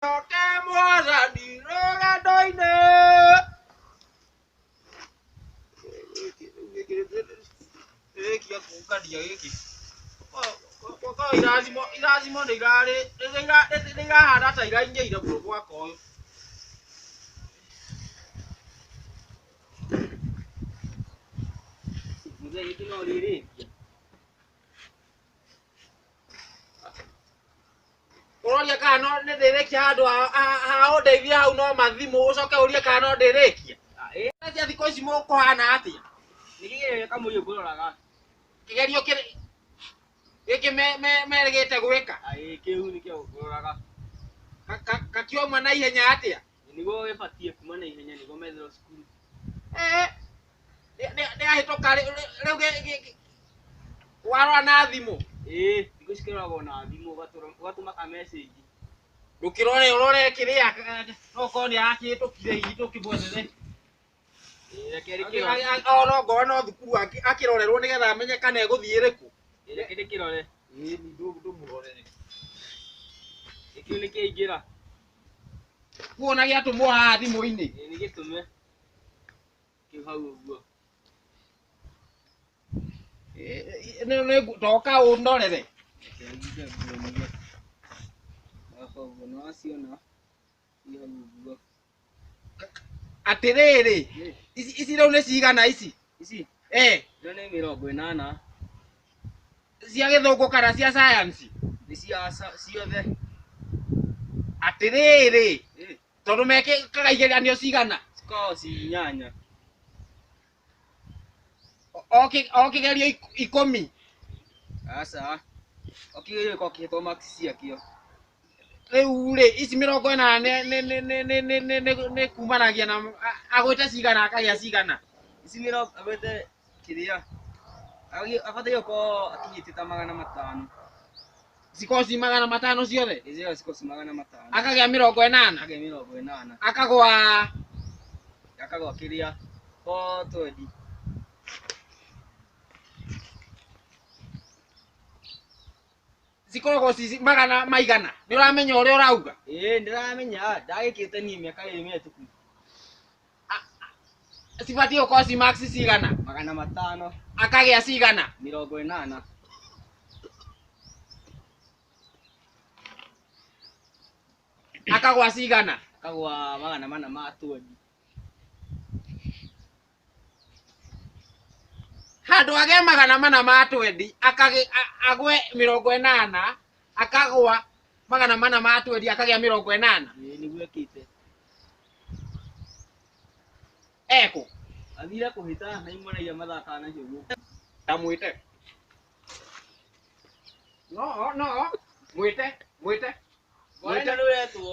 Njoke mwathani rũgendo-inĩ. Rĩkia kũngania gĩkĩ. Kwa irathimo irathimo nĩ irarĩ nĩ irahana ta iraingĩire mũno mwaka ũyũ. Mũthee gĩkĩ no rĩrĩkia. ũroria kana no nĩ ndĩrĩkia handũ ha- ha- ha ũndeithie hau no mathimũ ũcoke ũrie kana no ndĩrĩkia cia thikũ ici mũkũhana atĩa nĩgĩgereria kamũiria ngũroraga kĩgerio kĩrĩ gĩkĩ me- me- merĩgĩte gwĩka kĩu nĩkĩo ngũroraga Ka- ka- kakiuma na ihenya atĩa niguo wibatie kuma na ihenya niguo metherwo cukuru Eh, nĩ- nĩ- nĩahĩtũka rĩ- rĩ- rĩu gĩ- gĩ- gĩ- warora na thimũ ĩĩ thikũ cikĩroragwo na thimũ ũgatũra- ũgatũma ka message ndũkĩrore ũrore kĩrĩa okorwo nĩ arakĩhĩtũkire itũ kĩmwethere ona ngorwo no thukuru akĩrorerwo nĩgetha amenye kana egũthiĩ rĩkũ reke ndĩkĩrore ndũmũrorere kĩu nĩ kĩingĩra kuona gĩatũmwo haha thimũ-inĩ nĩ gĩtũme kĩu hau ũguo toka ũndorere Haha ũguo nĩ waciona atĩrĩrĩ ici ici rĩu nĩ cigana ici ici eh icio nĩ mĩrongo ĩnana cia gĩthũngũ kana cia sayansi nĩ cia sa- ciothe atĩrĩrĩ Eh, tondũ mekĩkaga igeranio cigana cikoragwo ci inyanya o kigerio ikumi aca o kigerio giko kihitwo marks ciakio riu ri ici mirongo ina ni kumanagia na agwite cigana akagia cigana ici mirongo agwite kiria abataire gukorwo akinyite ta magana matano cikoci magana matano ciothe ĩcĩo cikoci magana matano akagĩa mĩrongo ĩnana akagĩa mĩrongo ĩnana akagwa akagwa kĩrĩa o twendi cikoragwo ci magana maigana nĩ ũramenya ũrĩa ũrauga ĩĩ ndĩramenya ndagĩkĩte niĩ mĩaka ĩrĩ mĩhĩtũku cibatiĩ gũkorwo ci max cigana magana matano akagĩa cigana mĩrongo ĩnana akagwa cigana akagwa magana mana ma twendi handũ agĩa magana mana ma twendi akagĩ- a- agwe mĩrongo ĩnana akagwa magana mana ma twendi akagĩa mĩrongo ĩnana Ĩĩ, nĩguo ekĩte ekũ athire kũhĩta na imũraia mathakaga nacio guoko ndamwĩte no no mwĩte mwĩte mwĩte nĩwetwo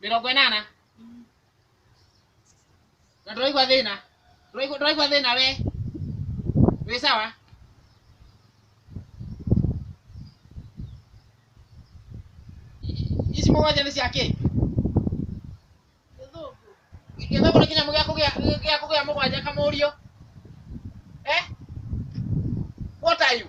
mĩrongo ĩnana na ndũraigua thĩna Ndũraigua- ndũraigua thĩna we wĩ sawa I- ici mũgwanja nĩ cia kĩ gĩthũngũ nĩ kĩnyamũ gĩa kũgĩa gĩa kũgĩa mũgwanja kamũriũ eh what are you